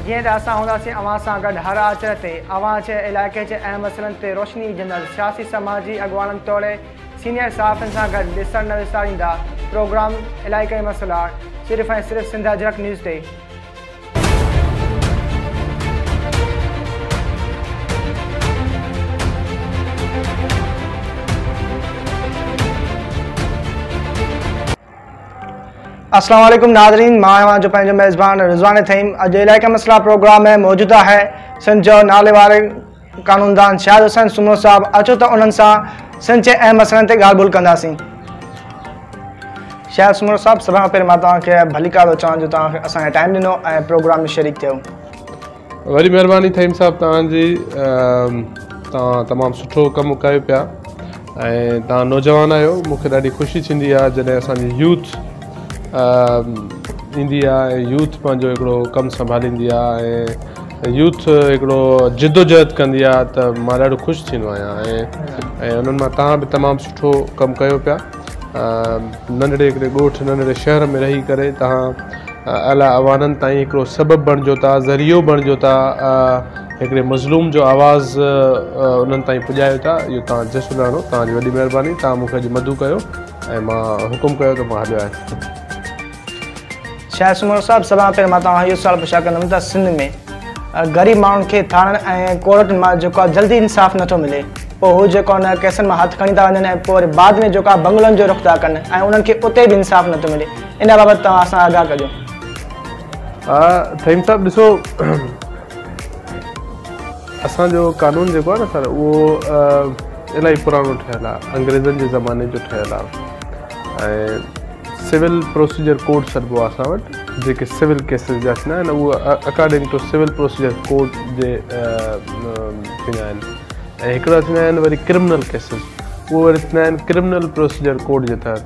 جيئن ته اسان هونداسين اوهان سان گڏ هر آچر تي، اوهان جي علائقي جي اهم مسئلن تي روشني وجهندڙ سياسي سماجي اڳواڻن توڙي سينيئر صحافين سان گڏ ڏسڻ نه وساريندا پروگرام علائقائي مسئلا صرف ۽ صرف سنڌ اجرڪ نيوز تي. السلام عليڪم ناظرين مان اوهان جو پنهنجو ميزبان رضوان ٿيم اڄ علائقه مسئلا پروگرام ۾ موجود آهي سنڌ جو ناليواري قانوندان شاهد حسين سومرو صاحب اچو ته انهن سان سنڌ جي اهم مسئلن تي ڳالهه ٻولهه ڪنداسين. شاهد سومرو صاحب سڀ کان پهرين مان توهان کي ڀليڪار ٿو چوان جو توهان کي اسان کي ٽائيم ڏنو ۽ پروگرام ۾ شريڪ ٿيو. وڏي مهرباني ٿهيم صاحب توهان جي توهان تمام سٺو ڪم ڪيو پيا. ۽ توهان نوجوان آهيو مون کي ڏاڍي خوشي ٿيندي آهي جڏهن اسان جي يوٿ ايندي آهي ۽ يوٿ پنهنجو هڪڙو ڪم سنڀاليندي آهي ۽ يوٿ هڪڙو جدوجهد ڪندي آهي ته مان ڏاڍو خوش ٿيندو آهيان ۽ انهن مان توهان به تمام سٺو ڪم ڪيو پيا ننڍڙي هڪڙي ڳوٺ ننڍڙي شهر ۾ رهي ڪري توهان اعليٰ اعوانن تائين هڪڙو سبب بڻجو ٿا ذريعو بڻجو ٿا هڪڙي مظلوم جو آواز انهن تائين پڄايو ٿا اهو توهان جو جس ڏاڙهو توهان جي وڏي مهرباني توهان مون کي اڄ مدعو ڪيو ۽ مان حڪم ڪيو ته مان هليو آهيان. شاهه سومرو صاحب سڀ کان پهرين مان توهان کان اهو سوال پڇا ڪندم ته سنڌ ۾ غريب ماڻهن کي ٿاڻن ۽ ڪورٽن مان جيڪو آهي جلدي انصاف نٿو ملي پوء هو جيڪو ان ڪيسن مان هٿ کڻي ٿا وڃن ۽ پوء وري بعد ۾ جيڪو آهي بنگلن جو رخ ٿا ڪن ۽ انهن کي اتي به انصاف نٿو ملي ان بابت توهان اسان آگاهه ڪجو. فهيم صاحب ڏسو اسان جو قانون جيڪو آهي نه سر اهو الاهي پراڻو ٺهيل آهي انگريزن جي زماني جو ٺهيل آهي ۽ سول پروسيجر ڪوڊ سڏبو آهي اسان وٽ جيڪي سول ڪيسز جا ٿيندا آهن اهو according to civil procedure code جي ٿيندا آهن ۽ هڪڙا ٿيندا آهن وري ڪرمنل ڪيسز اهو وري ٿيندا آهن ڪرمنل پروسيجر ڪوڊ جي تحت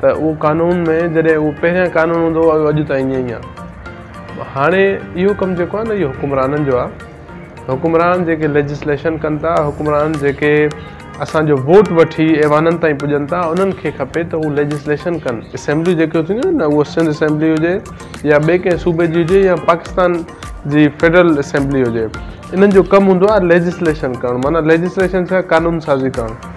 ته اهو قانون ۾ جڏهن اهو پهريان قانون هوندو هو اڄ تائين ائين ئي آهي هاڻي اهو ڪم جيڪو آهي نه اهو حڪمرانن جو آهي حڪمران جيڪي ليجسليشن ڪن ٿا حڪمران جيڪي اسانجو ووٽ وٺي ايوانن تائين پڄن ٿا انهن کي کپي ته هو ليجسليشن ڪن اسيمبليون جيڪيون ٿينديون آهن نه اهو سنڌ اسيمبلي هجي يا ٻئي ڪنهن صوبي جي هجي يا پاڪستان جي فيڊرل اسيمبلي هجي انهن جو ڪم هوندو آهي ليجسليشن ڪرڻ معنيٰ ليجسليشن سان قانون سازي ڪرڻ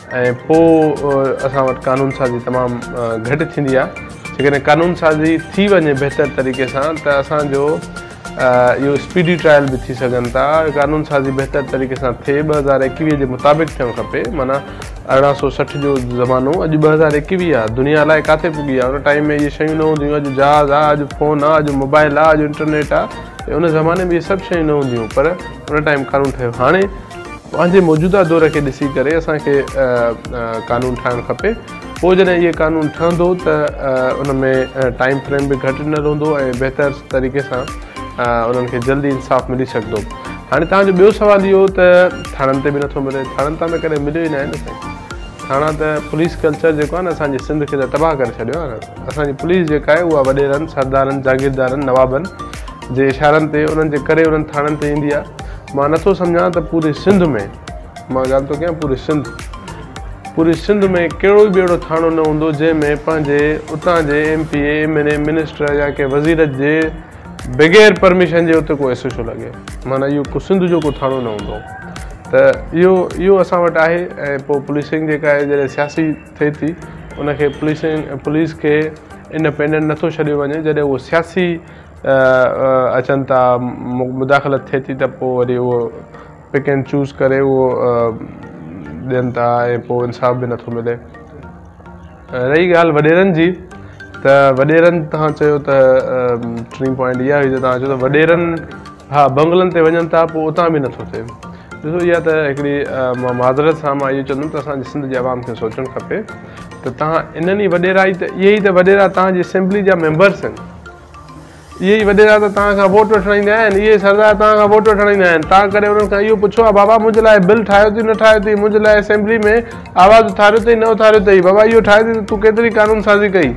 ۽ پوء اسان وٽ قانون سازي تمام گهٽ ٿيندي آهي جيڪڏهن قانون سازي ٿي وڃي بهتر طريقي سان ته اسان جو اهو اسپيڊي ٽرائل به ٿي سگهن ٿا قانون سازي بهتر طريقي سان ٿئي ٻه هزار ايڪويهه جي مطابق ٿيڻ کپي معنيٰ ارڙهن سو سٺ جو زمانو اڄ ٻه هزار ايڪويهه آهي دنيا الائي ڪاٿي پڳي آهي ان ٽائيم ۾ اهي شيون نه هونديون اڄ جهاز آهي اڄ فون آهي اڄ موبائل آهي اڄ انٽرنيٽ آهي ان زماني ۾ اهي سڀ شيون نه هونديون پر ان ٽائيم قانون ٺهيو هاڻي پنهنجي موجوده دور کي ڏسي ڪري اسان کي قانون ٺاهڻ کپي پوء جڏهن اهي قانون ٺهندو ته ان ۾ ٽائيم فريم به گهٽ نه رهندو ۽ بهتر طريقي سان انهن کي جلدي انصاف ملي سگهندو هاڻي توهان جو ٻيو سوال اهو ته ٿاڻن تي به نٿو ملي ٿاڻن تان ته ڪڏهن مليو ئي ناهي نه سائين ٿاڻا ته پوليس ڪلچر جيڪو آهي نه اسان جي سنڌ کي ته تباهه ڪري ڇڏيو آهي نه اسان جي پوليس جيڪا آهي اها وڏيرن سردارن جاگيردارن نوابن جي اشارن تي انهن جي ڪري انهن ٿاڻن تي ايندي آهي مان نٿو سمجهان ته پوري سنڌ ۾، مان ڳالهه ٿو ڪيان پوري سنڌ، پوري سنڌ ۾ ڪهڙو به اهڙو ٿاڻو نه هوندو جنهن ۾ پنهنجي اتان جي M P A, M N A, minister يا ڪنهن وزير جي بغير پرميشن جي اتي ڪو ايس ايڇ او لڳي. معنيٰ اهو ڪو سنڌ جو ڪو ٿاڻو نه هوندو ته اهو اهو اسان وٽ آهي ۽ پوء پوليسنگ جيڪا آهي جڏهن سياسي ٿئي ٿي ان کي پوليسنگ پوليس کي انڊپينڊنٽ نٿو ڇڏيو وڃي جڏهن اهو سياسي اچن ٿا مداخلت ٿئي ٿي ته پوء وري اهو پڪ اينڊ چوز ڪري اهو ڏين ٿا ۽ پوء انصاف به نٿو ملي رهي ڳالهه وڏيرن جي ته وڏيرن تان چيو ته ٽين پوائنٽ اها هئي ته تان چيو ته وڏيرن ها بنگلن تي وڃن ٿا پوء اتان به نٿو ٿئي ڏسو اها ته هڪڙي مان معذرت سان مان اهو چوندم ته اسان جي سنڌ جي عوام کي سوچڻ کپي ته تان انهن ئي وڏيرا ته اهي ئي ته وڏيرا تان جي اسيمبلي جا ميمبرس آهن اهي ئي وڏيرا ته توهان کان ووٽ وٺڻ ايندا آهن، اهي ئي سردار توهان کان ووٽ وٺڻ ايندا آهن. تان ڪري انهن کان اهو پڇو ها بابا منهنجي لاء بل ٺاهيو اٿئي نه ٺاهيو اٿئي، منهنجي لاء اسيمبلي ۾ آواز اٿاريو اٿئي نه اٿاريو اٿئي، بابا اهو ٺاهيو اٿئي ته تون ڪيتري قانون سازي ڪئي.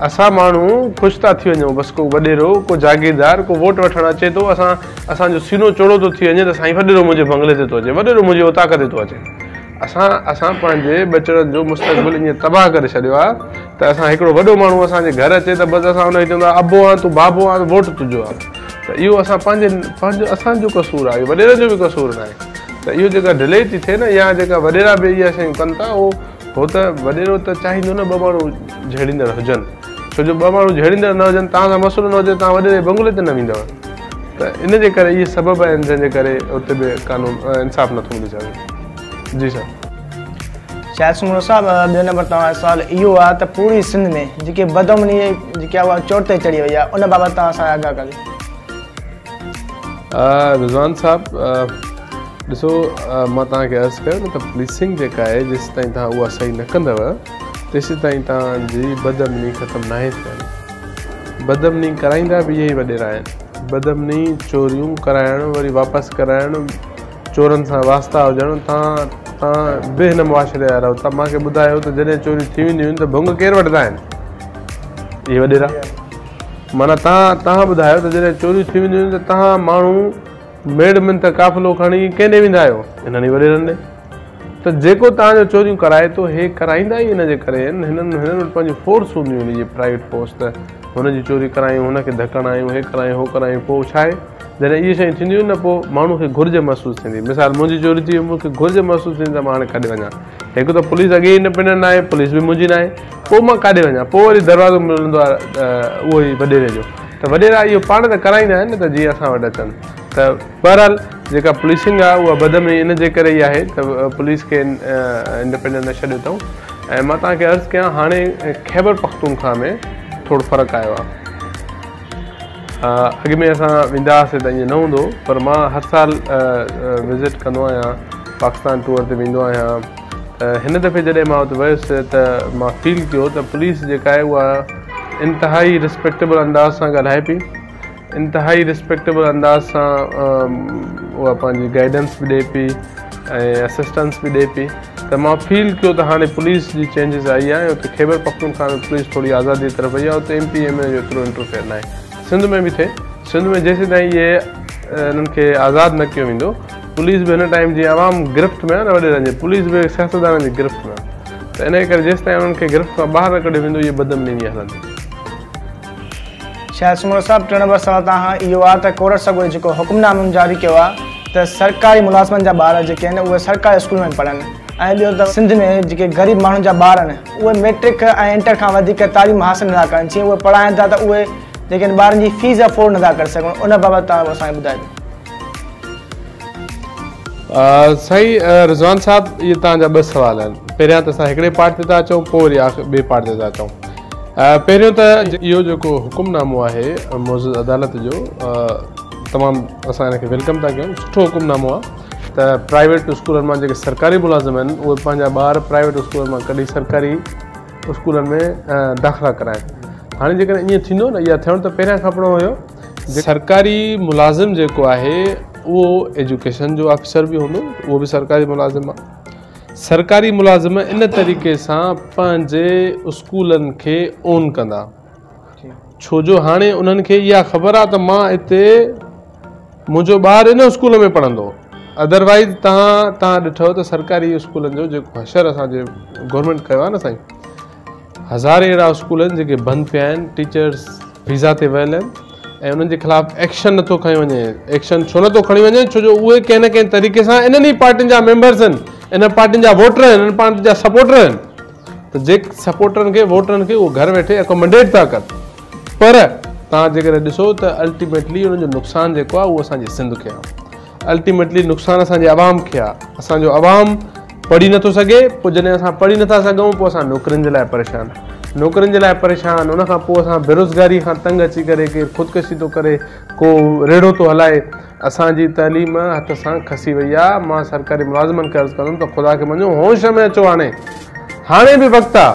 اسان ماڻهو خوش ٿا ٿي وڃون بس ڪو وڏيرو، ڪو جاگيردار، ڪو ووٽ وٺڻ اچي ٿو اسان اسان جو سينو چوڙو ٿو ٿي وڃي ته سائين وڏيرو منهنجي بنگلي تي ٿو اچي، وڏيرو منهنجي اوطاق تي ٿو اچي. اسان اسان پنهنجي ٻچڙن جو مستقبل ائين تباهه ڪري ڇڏيو آهي ته اسان هڪڙو وڏو ماڻهو اسان جي گهر اچي ته بس اسان ان کي چوندا ابو آن تون بابو آن ووٽ تنهنجو آن ته اهو اسان پنهنجي پنهنجو اسان جو قصور آهي وڏيرن جو به قصور ناهي ته اهو جيڪا ڊلي ٿي ٿئي نه يا جيڪا وڏيرا به اهي شيون ڪن ٿا اهو هو ته وڏيرو ته چاهيندو نه ٻه ماڻهو جهيڙيندڙ هجن ڇو جو ٻه ماڻهو جهيڙيندڙ نه هجن، توهان سان مسئلو نه هجي ته توهان وڏيري جي بنگلي تي نه ويندؤ ته ان جي ڪري اهي سبب آهن جنهن جي ڪري اتي به قانون انصاف نٿو ملي سگهي. جي سر. شاهد سومرو صاحب ٻيو نمبر توهان جو سوال اهو آهي ته پوري سنڌ ۾ جيڪي بدامني جيڪي آهي اها چوٽ تي چڙهي وئي آهي ان بابت توهان اسان کي آگاهه ڪريو. رضوان صاحب ڏسو مان توهان کي عرض ڪيو نه ته پوليسنگ جيڪا آهي جيسيتائين توهان اها صحيح نه ڪندؤ تيسيتائين توهان جي بدامني ختم ناهي ٿيڻي. بدامني ڪرائيندا به اهي ئي وڏيرا آهن. بدامني، چوريون ڪرائڻ، وري واپس ڪرائڻ، چورن سان واسطا هجڻ، توهان توهان به هن معاشري جا رهو ٿا. مانکي ٻڌايو ته جڏهن چوريون ٿي وينديون آهن ته ڀنگ ڪير وٺندا آهن؟ اهي وڏيرا. معنيٰ توهان توهان ٻڌايو ته جڏهن چوريون ٿي وينديون آهن ته توهان ماڻهو ميڙ منٿ قافلو کڻي ڪنهن ڏي ويندا آهيو؟ هنن ئي وڏيرن ڏي. ته جيڪو توهان جو چوريون ڪرائي ٿو هي ڪرائيندا ئي ان جي ڪري آهن هنن هنن وٽ پنهنجون فورس هونديون آهن اهي پرائيويٽ فورس ته هن جي چوري ڪرايون هن کي ڌڪ هڻايون هي ڪرايون هو ڪرايون پوء ڇا آهي جڏهن اهي شيون ٿينديون آهن نه پوء ماڻهو کي گهرج محسوس ٿيندي مثال منهنجي چوري ٿي وئي مون کي گهرج محسوس ٿيندي ته مان هاڻي ڪاڏي وڃان هڪ ته پوليس اڳي ئي انڊپينڊنٽ نه آهي پوليس به منهنجي نه آهي پوء مان ڪاڏي وڃان پوء وري دروازو ملندو آهي اهو ئي وڏيري جو ته وڏيرا اهو پاڻ ته ڪرائيندا آهن نه ته جيئن اسان وٽ اچن ته بهرحال جيڪا پوليسنگ آهي اها بدامني ان جي ڪري ئي آهي ته پوليس کي انڊپينڊنٽ نه ڇڏيو اٿئون ۽ مان توهان کي عرض ڪيان هاڻي خيبر پختونخوا ۾ ٿورو فرق آيو آهي اڳ ۾ اسان ويندا هئاسي ته ائين نه هوندو پر مان هر سال وزٽ ڪندو آهيان پاڪستان ٽور تي ويندو آهيان هن دفعي جڏهن مان اتي ويس ته مان فيل ڪيو ته پوليس جيڪا آهي اها انتهائي رسپيڪٽيبل انداز سان ڳالهائي پئي انتهائي رسپيڪٽيبل انداز سان اها پنهنجي گائيڊنس به ڏي پئي ۽ اسسٽنس به ڏي پئي ته مان فيل ڪيو ته هاڻي پوليس جي چينجز آئي آهي اتي خيبر پختونخوا ۾ پوليس ٿوري آزادي طرف وئي آهي اتي M P M N A جو ايترو انٽرفيئر ناهي سنڌ ۾ به ٿئي سنڌ ۾ جيسين تائين اهي انهن کي آزاد نه ڪيو ويندو پوليس به هن ٽائيم جي عوام گرفت ۾ نه وڏيرن جي پوليس به سياستدانن جي گرفت ۾ ته ان ڪري جيسين تائين انهن کي گرفت کان ٻاهر نه ڪڍيو ويندو اهي بدمني هلندي شايد سومرو صاحب ٽيون نمبر سوال توهان کان اهو آ ته ڪورٽ سگوري جيڪو حڪم نامون جاري ڪيو آ ته سرڪاري ملازمن جا ٻار جيڪي آهن اهي سرڪاري اسڪولن ۾ پڙهن ۽ ٻيو ته سنڌ ۾ جيڪي غريب ماڻهن جا ٻار آهن اهي ميٽرڪ ۽ انٽر کان وڌيڪ تعليم حاصل نٿا ڪرن جي اهي پڙهائن ٿا ته اهي جيڪي آهن ٻارن جي فيس افورڊ نٿا ڪري سگهن ان بابت توهان اسان کي ٻڌائي ڏيو. سائين رضوان صاحب اهي توهان جا ٻه سوال آهن پهريان ته اسان هڪڙي پارٽ تي ٿا اچون پوء وري ٻئي پارٽ تي ٿا اچون پهريون ته اهو جيڪو حڪم نامو آهي معزز عدالت جو تمام اسان ان کي ويلڪم ٿا ڪيون سٺو حڪم نامو آهي ته پرائيويٽ اسڪولن مان جيڪي سرڪاري ملازم آهن اهي پنهنجا ٻار پرائيويٽ اسڪولن مان ڪڍي سرڪاري اسڪولن ۾ داخلا ڪرائن هاڻي جيڪڏهن ائين ٿيندو نه اها ٿيڻ ته پهريان کپڻو هيو سرڪاري ملازم جيڪو آهي اهو ايجوڪيشن جو آفيسر به هوندو اهو به سرڪاري ملازم آهي سرڪاري ملازم ان طريقي سان پنهنجي اسڪولن کي اون ڪندا ڇو جو هاڻي انهن کي اها خبر آهي ته مان اتي منهنجو ٻار ان اسڪول ۾ پڙهندو ادروائز تان تان ڏٺو ته سرڪاري اسڪولن جو جيڪو حشر اسان جي گورنمينٽ ڪيو آهي نه سائين هزارين اهڙا اسڪول آهن جيڪي بند پيا آهن ٽيچرس ويزا تي ويل آهن ۽ انهن جي خلاف ايڪشن نٿو کنيو وڃي ايڪشن ڇو نٿو کڻي وڃي ڇو جو اهي ڪنهن نه ڪنهن طريقي سان انهن ئي پارٽين جا ميمبرس آهن انهن پارٽين جا ووٽر آهن انهن پارٽين جا سپورٽر آهن ته جي سپورٽرن کي ووٽرن کي اهو گهر ويٺي اڪومنڊيٽ ٿا ڪن پر تان جيڪڏهن ڏسو ته الٽيميٽلي انهن جو نقصان جيڪو آهي اهو اسان جي سنڌ کي آهي الٽيميٽلي نقصان اسان جي عوام کي آ اسان جو عوام پڙهي نٿو سگهي پوء جڏهن اسان پڙهي نٿا سگهون پوء اسان نوڪرين جي لاء پريشان نوڪرين جي لاء پريشان ان کان پوء اسان بيروزگاري کان تنگ اچي ڪري ڪير خودڪشي ٿو ڪري ڪو ريڙهو ٿو هلائي اسان جي تعليم هٿ سان کسي وئي آ مان سرڪاري ملازمن کي عرض ڪندم ته خدا کي مڃو هوش ۾ اچو هاڻي هاڻي به وقت آ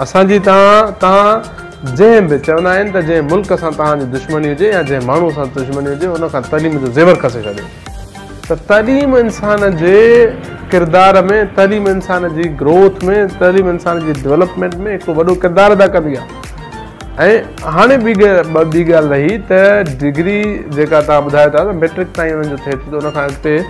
اسان جي تان تان جنهن به، چوندا آهن ته جنهن ملڪ سان توهان جي دشمني هجي يا جنهن ماڻهو سان دشمني هجي ان کان تعليم جو زيور کسي ڇڏيو ته تعليم انسان جي ڪردار ۾ تعليم انسان جي گروٿ ۾ تعليم انسان جي ڊولپمينٽ ۾ هڪڙو وڏو ڪردار ادا ڪندي آهي ۽ هاڻي ٻي ٻي ڳالهه رهي ته ڊگري جيڪا توهان ٻڌايو ٿا ته ميٽرڪ تائين انهن جو ٿئي ٿي ته ان کان اڳتي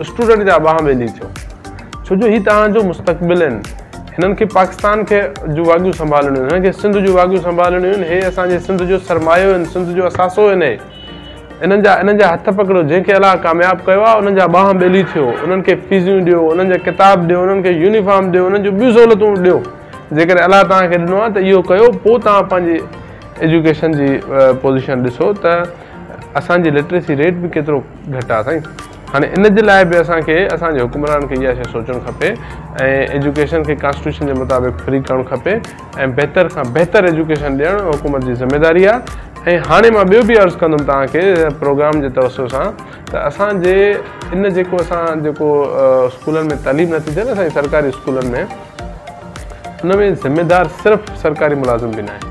اسٽوڊنٽ جا ٻانهن ٻيلي ٿيو ڇو جو هي توهان جو مستقبل آهن هنن کي پاڪستان کي جون واڳيون سنڀالڻيون آهن هنن کي سنڌ جون واڳيون سنڀالڻيون آهن هي اسان جي سنڌ جو سرمايو آهن سنڌ جو اثاثو آهن هي انهن جا انهن جا هٿ پڪڙيو جنهن کي الله ڪامياب ڪيو آهي انهن جا ٻانهن ٻيلي ٿيو انهن کي فيزيون ڏيو انهن جا ڪتاب ڏيو انهن کي يونيفارم ڏيو انهن جون ٻيون سهولتون ڏيو جيڪڏهن الله توهان کي ڏنو آهي ته اهو ڪيو پوء توهان پنهنجي ايجوڪيشن جي پوزيشن ڏسو ته اسان جي لٽريسي ريٽ به ڪيترو گهٽ آهي سائين هاڻي ان جي لاء به اسان کي اسان جي حڪمرانن کي اها شيء سوچڻ کپي ۽ ايجوڪيشن کي ڪانسٽيٽيوشن جي مطابق فري ڪرڻ کپي ۽ بهتر کان بهتر ايجوڪيشن ڏيڻ حڪومت جي ذميواري آهي ۽ هاڻي مان ٻيو به عرض ڪندم توهان کي پروگرام جي توسط سان ته اسان جي ان جيڪو اسان جيڪو اسڪولن ۾ تعليم نٿي ٿئي نه اسان جي سرڪاري اسڪولن ۾ ان ۾ ذميوار صرف سرڪاري ملازم به ناهي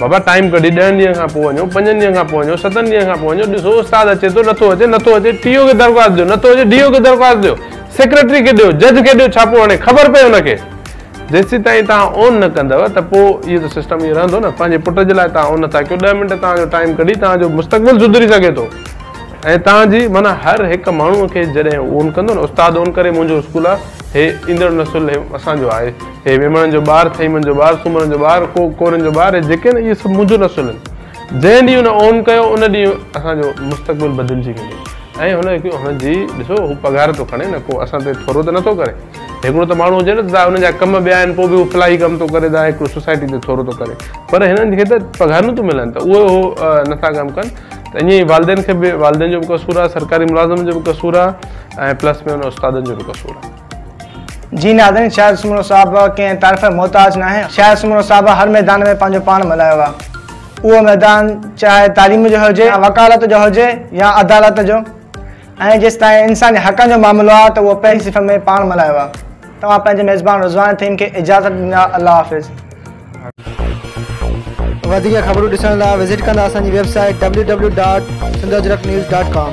بابا ٽائيم ڪڍي ڏهن ڏينهن کان پوء وڃو پنجن ڏينهن کان پوء وڃو ستن ڏينهن کان پوء وڃو ڏسو استاد اچي ٿو نٿو اچي نٿو اچي ٽي او کي درخواست ڏيو نٿو اچي ڊي او کي درخواست ڏيو سيڪريٽري کي ڏيو جج کي ڏيو ڇاپو هڻي خبر پئي هن کي جيسين تائين تان اون نه ڪندو ته پوء اهو ته سسٽم اهو رهندو نه پنهنجي پٽ جي لاء تان اون نٿا ڪيو ڏهه منٽ تان جو ٽائيم ڪڍي تان جو مستقبل سڌري سگهي ٿو ۽ تان جي معنيٰ هر هڪ ماڻهو کي جڏهن اون ڪندو نه استاد اون ڪري منهنجو اسڪول آهي هي ايندڙ نسل اسان جو آهي هي ويمڻن جو ٻار، ٿهيمن جو ٻار، سومرن جو ٻار، ڪو ڪورين جو ٻار، هي جيڪي آهن اهي سڀ منهنجون نسلون آهن. جنهن ڏينهن هن اون ڪيو ان ڏينهن اسان جو مستقبل بدلجي ويندو ۽ هن هڪ هن جي ڏسو هو پگهار ٿو کڻي نه ڪو اسان تي ٿورو ته نٿو ڪري. هڪڙو ته ماڻهو هجي نه ته ان جا ڪم ٻيا آهن پوء به هو فلاحي ڪم ٿو ڪري ته هڪڙو سوسائٽي تي ٿورو ٿو ڪري پر هنن کي ته پگهارون ٿيون ملن ته اهي هو نٿا ڪم ڪن ته ائين ئي والدين کي به والدين جو به قصور آهي سرڪاري ملازمن جو به قصور آهي ۽ پلس ۾ ان استادن جو به قصور آهي. جي ناظرين شاعر سومرو صاحب ڪنهن تعريف جا محتاج ناهي شاعر سومرو صاحب هر ميدان ۾ پنهنجو پاڻ ملهايو آهي اهو ميدان چاهي تعليم جو هجي يا وڪالت جو هجي يا عدالت جو ۽ جيستائين انساني حقن جو معاملو آهي ته اهو پنهنجي صنف ۾ پاڻ ملهايو آهي توهان پنهنجي ميزبان رضوان ٿهيم کي اجازت ڏنا الله حافظ. وڌيڪ خبرون ڏسڻ لاء وزٽ ڪندا اسان جي website W W dot Sindh Ajrak news dot ڪام